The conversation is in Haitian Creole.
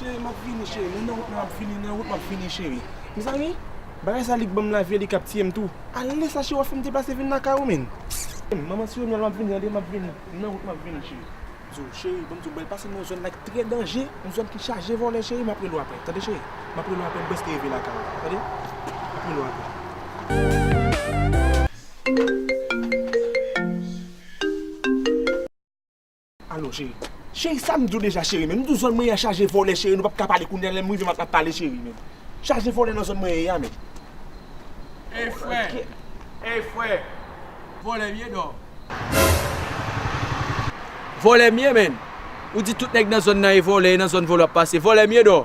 Cheri map vini cheri mwen nan wout map vini nan wout map vini cheri mezanmi bagay sa li banm lavi li kap tiyem tou ale sa cheri wap fèm deplase vin lakay ou menn manman ti Reniel map vini tande map vini mwen nan wout map vini cheri zo cheri banm diw bal pase nan yon zòn la ki trè danje yon zòn ki chaje vòlè cheri map rele w aprè tande cheri map rele w aprè m prèske rive lakay ou tande map rele w aprè. Alo cheri. Cheri sam diw deja cheri menm. M diw zòn mwen ya chaje vòlè cheri nou pap ka pale kounya lèm rive map pale cheri menm. Chaje vòlè nan zòn mwen ye ya menm. Ey frè ey frè vòlè m ye dò. Vòlè m ye menn. Ou di tout nèg nan zòn nan ye vòlè e nan zòn vòlè wap pase. Vòlè m ye dò.